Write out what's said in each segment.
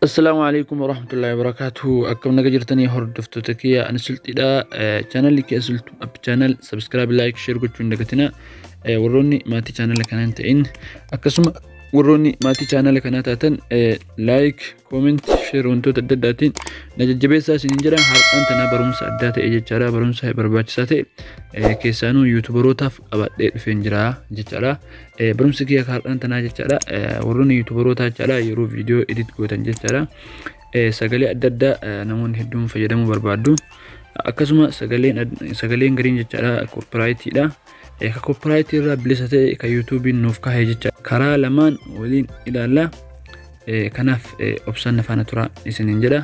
Assalaamu alaikum warahmatullahi wabarakatuh. Akkam naga jirtanii hordoftoota kiyya ani sulxidha. Chaanalli kiyya sulxu app chaanal subscribe like share gochuun dagatina. Warroonni maatii chaanala kanaa hin ta'in akkasuma warroonni maatii chaanala kanaa taatan like comment share wantoota adda addaatiin na jajjabeessaa isin hin jedhan har'aan tanaa barumsa addaa ta'e jechaadha barumsa barbaachisaa ta'e keessaanuu yuutubarootaaf qabadhee dhufeen jira jechaadha. Barumsi kiyya kaardhaan tanaa jechaadha. Warroonni yuutubarootaa jechaadha yeroo viidiyoo edit gootan jechaadha. Sagalee adda addaa namoonni hedduun fayyadamuu barbaaddu. Akkasuma sagaleen sagaleen gariin jechaadha koopiraayitiidha. Ka koopiraayitii irraa bilisa ta'e ka yuutuubiin nuuf kaa'e jecha karaa lamaan waliin ilaalla. Kanaaf obsaan na faana turaa isiniin jedha.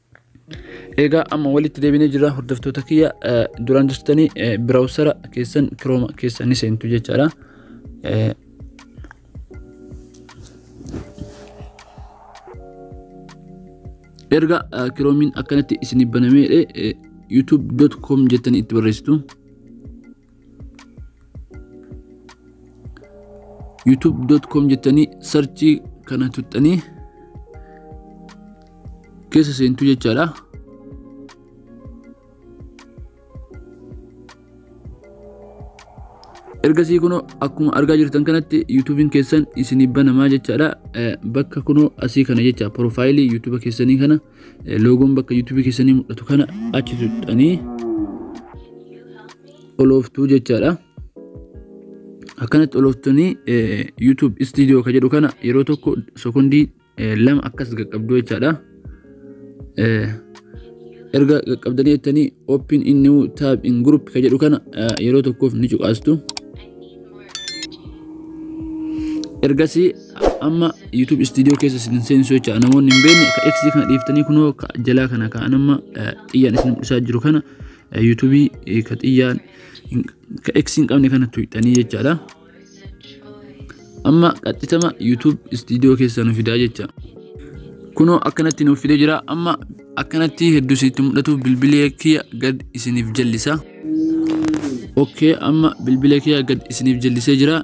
Egaa amma walitti deebinee jira hordoftoota kiyya duraan jirtanii biraawusara keessan kirooma keessa ni seentu jechaadha. Erga kiroomiin akkanatti isinii banamee youtube.com jettanii itti barreessitu. youtube.com jettanii sarchii kana tuttanii keessa seentuu jechaadha. ergasii kunoo akkuma argaa jirtan kanatti yuutuubiin keessan isinii banamaa jechaadha bakka kunoo asii kana jecha piroofaayilii yuutuuba keessanii kana loogoon bakka yuutuubii keessanii mul'atu kana achi tuqxanii olooftuu jechaadha. Akkanatti olooftanii yuutuub istiidiyoo kan jedhu kana yeroo tokko sekondii lama akkas qaqqabdu jechaadha. Erga qaqqabdanii jettanii open in new tab in group kan jedhu kana yeroo tokkoof ni cuqaastu. Ergasii amma YouTube studio keessa isin seensu jecha namoonni hin beekne ka X kana dhiiftanii kunoo ka jalaa kana ka amma xiyyaan isin mul'isaa jiru kana YouTube ka xiyyaan ka X hin qabne kana tuqxanii jechaadha. Amma qaxxitama YouTube studio keessa nu fidaa jecha. Kunoo akkanatti nuuf fidee jira amma akkanatti hedduu isinitti mul'atu bilbilee kiyya gad isiniif jallisa. Okkee amma bilbila kiyya gad isiniif jallisee jira.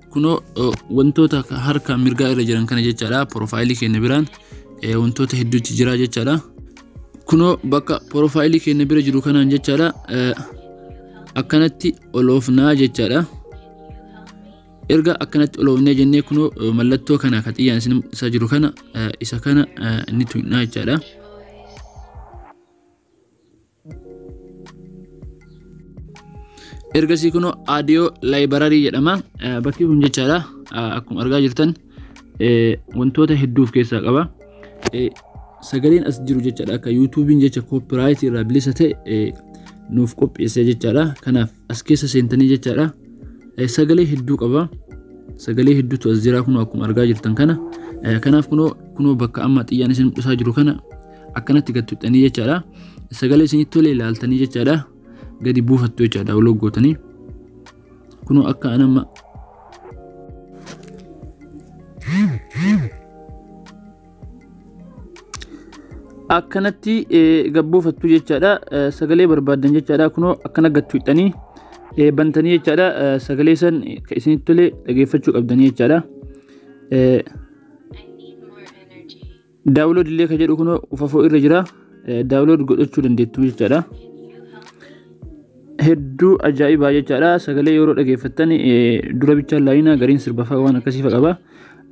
Kunoo eh, wantoota ka- harka mirgaa irra jiran kana jechaadha. Porofaayilii keenya biraan eh, wantoota hedduutti jira jechaadha. Kunoo bakka porofaayilii keenya bira jiru kanaan jechaadha. eh, Akkanatti ol oofnaa jechaadha. erga akkanatti oloofnee jennee kunoo eh, mallattoo kana ka xiyyaan isin isa jiru kana eh, isa kana eh, ni tuqnaa jechaadha. ergasii kunoo audio library jedhama Eh, bakki kun jechaadha Ah, akkuma argaa jirtan eh, wantoota hedduu of keessaa qaba Eh, sagaleen as jiru jechaadha akka yuutuubiin jecha copyright irraa bilisa ta'e eh, nuuf qopheessee jechaadha kanaaf as keessa seentanii jechaadha Eh, sagalee hedduu qaba sagalee hedduutu as jira kunoo akkuma argaa jirtan kana Eh, kanaaf kunoo kunoo bakka amma xiyyaan isin mul'isaa jiru kana akkanatti gad tuqxanii jechaadha. Sagalee isinitti tole ilaaltanii jechaadha. Gadi buufattu jechaadha download gootanii. Kunoo akka an amma akkanatti eh, gad buufattu jechaadha. Eh, Sagalee barbaaddan jechaadha. Kunoo akkana gad tuqxanii eh, bantanii jechaadha. Eh, Sagalee san ka isinitti tole dhageeffachuu qabdanii jechaadha. Eh, I need more energy. Daawulood illee kan jedhu kunoo ufafoo irra jira. Daawulood godhachuu dandeettu jechaadha. Hedduu ajaa'ibaa jechaadha. Sagalee yeroo dhageeffattan dura bichaa laayinaa gariin sirbafaa waan akkasii fa'a qaba.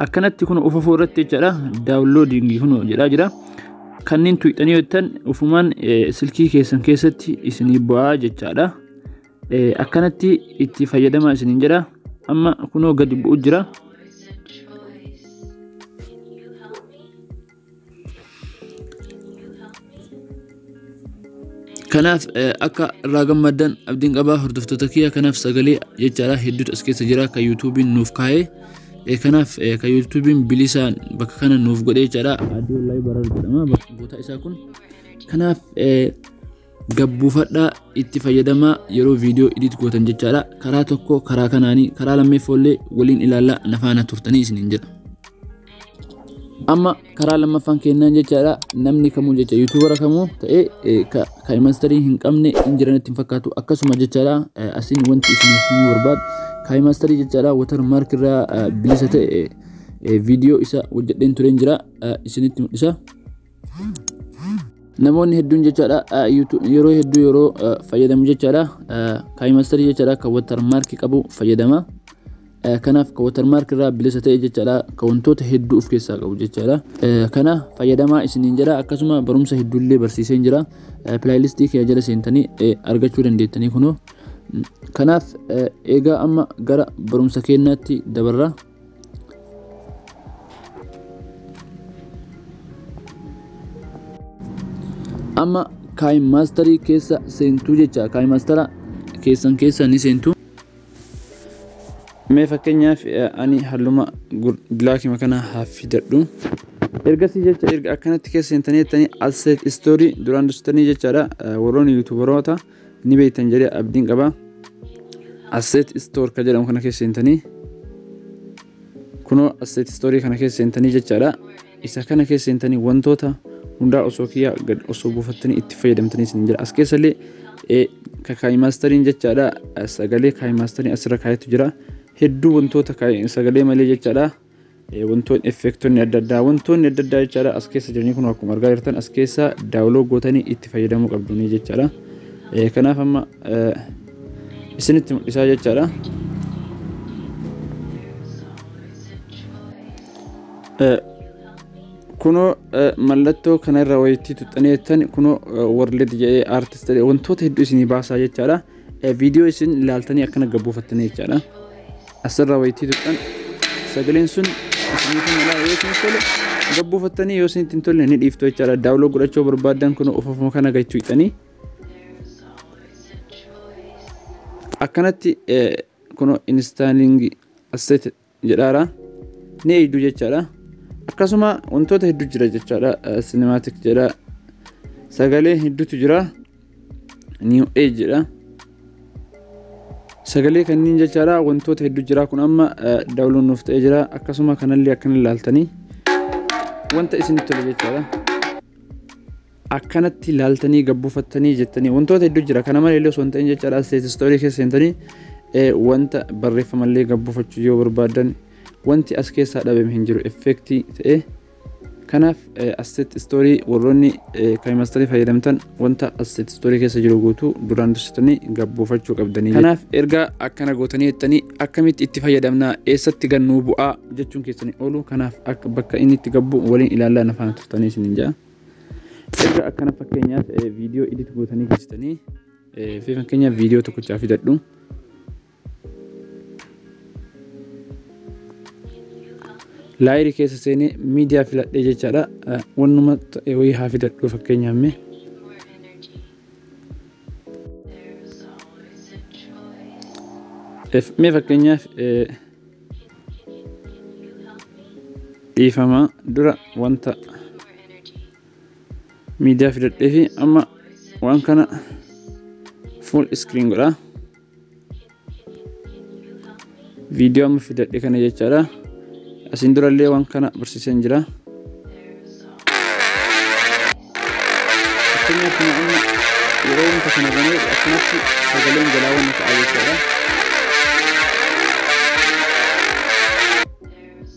Akkanatti kun ufafoo irratti jechaadha. Daawuloodingii kun jedhaa jira. Kanneen tuuxanii yoo jettan ufumaan silkii keessan keessatti isinii bu'aa jechaadha. akkanatti itti fayyadamaa isiniin jedha amma kunoo gadi bu'u jira kanaaf akka irraa gammaddan abdiin qabaa hordoftoota kiyya kanaaf sagalee jechaadha hedduutu as keessa jira kan yuutuubiin nuuf kaa'ee kanaaf kan yuutuubiin bilisaan bakka kana nuuf godhee jechaadha adii wallahi barar jedhama bakka goota isaa kun kanaaf gabbuufadhaa itti fayyadamaa yeroo viidiyoo edit gootan jechaadha karaa tokko karaa kanaanii karaa lammeeffoollee waliin ilaallaa nafaana turtanii isiniin jedha amma karaa lammaffaan kennaan jechaadha namni kamuu jecha yuutuubara kamuu ta'ee ka imastarii hin qabne hin jiranitti hin fakkaatu akkasuma jechaadha asiin wanti isin himuu barbaadu ka imastarii jechaadha watar maark irraa bilisa ta'e viidiyoo isa hojjedheen tureen jira isinitti mul'isa namoonni hedduun jechaadha yeroo hedduu yeroo fayyadamu jechaadha kaayimastarii jechaadha kan watarmaarki qabu fayyadama kanaaf kan watarmaarki irraa bilisa ta'e jechaadha kan wantoota hedduu of keessaa qabu jechaadha kana fayyadamaa isiniin jedha akkasuma barumsa hedduullee barsiiseen jira pilaayilistii kee jala seentanii argachuu dandeettanii kunoo kanaaf eegaa amma gara barumsa keenyaatti dabarra amma kaayimaastarii keessa seentuu jecha kaayimaastara keessan keessa ni seentu mee fakkeenyaaf eh, ani halluma bilaakima kana hafidadhu ergasii jecha erga akkanatti keessa seentanii jettanii asset story duraan dursitanii jechaadha eh, warroonni yuutubaroota ni beektan jedhee abdiin qaba. Asset store kan jedhamu kana keessa seentanii kunoo asset store kana keessa seentanii jechaadha. Isa kana keessa seentanii wantoota hundaa osoo kiyyaa gad osoo buufattanii itti fayyadamtanii isin jira. As keessallee kaayi maastariin jechaadha sagalee kaayi maastarii asirra kaayetu jira. Hedduu wantoota sagalee malee jechaadha. wantoonni effeektoonni adda addaa wantoonni adda addaa jechaadha as keessa jiranii kun akkuma argaa jirtan as keessa daawuloo gootanii itti fayyadamuu qabdanii jechaadha kanaaf amma isinitti mul'isaa jechaadha. kunoo mallattoo kanarra wayittii tuxxanii jettan kunoo warlid jedhee aartist jedhee wantoota hedduu isinii baasaa jechaadha viidiyoo isin ilaaltanii akkana gabbuufattanii jechaadha. Asirra waytii tuqxan sagaleen sun isiniifi malaa yoo isin tole gad buufattanii yoo isinitti hin tolle ni dhiiftu jechaadha. Daawuloo godhachuu barbaaddan kun ofuma kana gad tuqxanii akkanatti kun instaalingi asset jedhaara ni eegdu jechaadha. Akkasuma wantoota hedduu jira jechaadha. Cinematic jedha sagalee hedduutu jira. new age jedha sagalee kanniin jechaadha wantoota hedduu jira kun amma daawuloon nuuf ta'ee jira akkasuma kanallee akkan ilaaltanii wanta isinitti tole jechaadha akkanatti ilaaltanii gabbufattanii jettanii wantoota hedduu jira kana malee illee osoo hin ta'in jechaadha asteet istoorii keessa seentanii wanta barreeffamallee gabbufachuu yoo barbaadan wanti as keessaa dhabame hin jiru effeektii ta'ee Kanaaf asset story warroonni kaymasterii fayyadamtan wanta asset story keessa jiru guutuu duraan dursitanii gabboofachuu qabdanii. Kanaaf erga akkana gootanii jettanii akkamitti itti fayyadamna eessatti gannuu bu'aa jechuun keessanii oolu kanaaf akka bakka inni itti gabbu waliin ilaallaa na faana turtanii isiniin ja'a. Erga akkana fakkeenyaaf viidiyoo edit gootanii geessitanii fi fakkeenyaaf viidiyoo tokkochaa fidadhu. laayiri keessa seenee miidiyaa filadhee jechaadha wannuma ta'e wayii haa fidadhu fakkeenyaaf mee mee fakkeenyaaf dhiifama dura wanta miidiyaa fidadhee fi amma waan kana full screen godhaa viidiyoo amma fidadhe kana jechaadha asiin durallee waan kana barsiiseen jira fakkeenyaaf kana amma yeroo wanta kana banee akkanatti sagaleen jalaa wanna ta'a jechaadha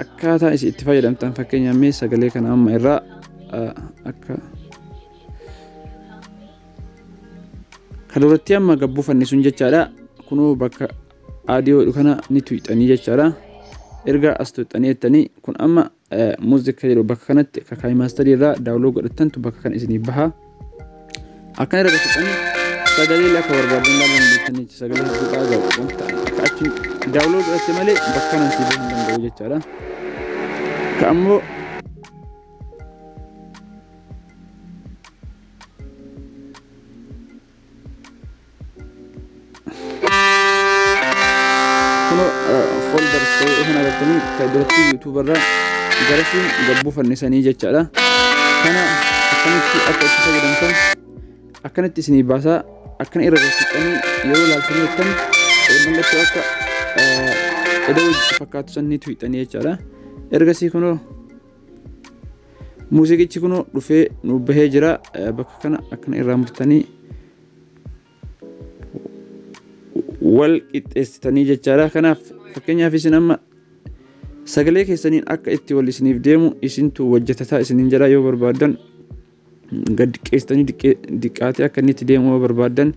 akkaataa isin itti fayyadamtan fakkeenyaaf mee sagalee kana amma irraa akka Kan duratti amma gad buufanne sun jechaadha. Kunoo bakka aadiyoo kana ni tuyxanii jechaadha. Erga as tuyxanii jettanii kun amma muuziqa jedhu bakka kanatti akka kaayii maastarii irraa daawuloo godhattantu bakka kana isiniif baha. Akkana irra godhatanii sagalee akka barbaadan ilaaluu dandeessanii sagalee hedduudhaa gahu wanta akka achi daawuloo godhatte malee bakka kanaan siif hin danda'u jechaadha. Ka ammoo kuno folder ta'ee kana irratti ka duratti youtube irra garasiin gabbuu fannisanii jechaadha kana akkamitti akka itti fayyadamtan akkanatti isinii baasaa akkana irra galchitanii yeroo laaltanii jettan mallattoo akka edoo fakkaatu san ni tuyxanii jechaadha ergasii kunoo muuziqichi kunoo dhufee nuuf bahee jira bakka kana akkana irraa murtanii wal qixxeessitanii jechaadha kanaaf fakkeenyaaf isin amma sagalee keessaniin akka itti wal isiniif deemu isintu wajjatataa isiniin jedha yoo barbaadan gad xiqqeessitanii xiqqaatee akka inni itti deemu yoo barbaaddan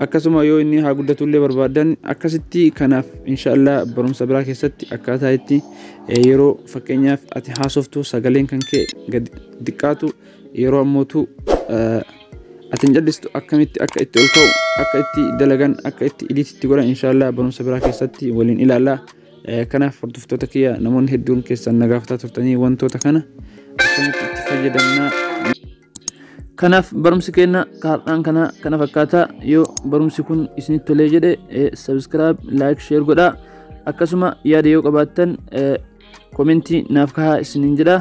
akkasuma yoo inni haa guddatu illee barbaaddan akkasitti kanaaf inshaallah barumsa biraa keessatti akkaataa itti yeroo fakkeenyaaf ati haasoftu sagaleen kan kee gad xiqqaatu yeroo ammootu ati hin callistu akkamitti akka itti ol ka'u akka itti dalagan akka itti idiitti godhan inshaallah barumsa biraa keessatti waliin ilaalla. Kanaaf hordoftoota kiyya namoonni hedduun keessan na gaafataa turtanii wantoota kana akkamitti itti fayyadamnaa Kanaaf barumsi keenya kaardhaan kana kana fakkaata yoo barumsi kun isinitti tolee jedhe subscribe like share godhaa akkasuma yaada yoo qabaattan komentii naaf kahaa isiniin jedha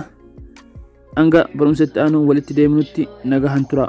hanga barumsa itti aanu walitti deemnutti nagahan tura.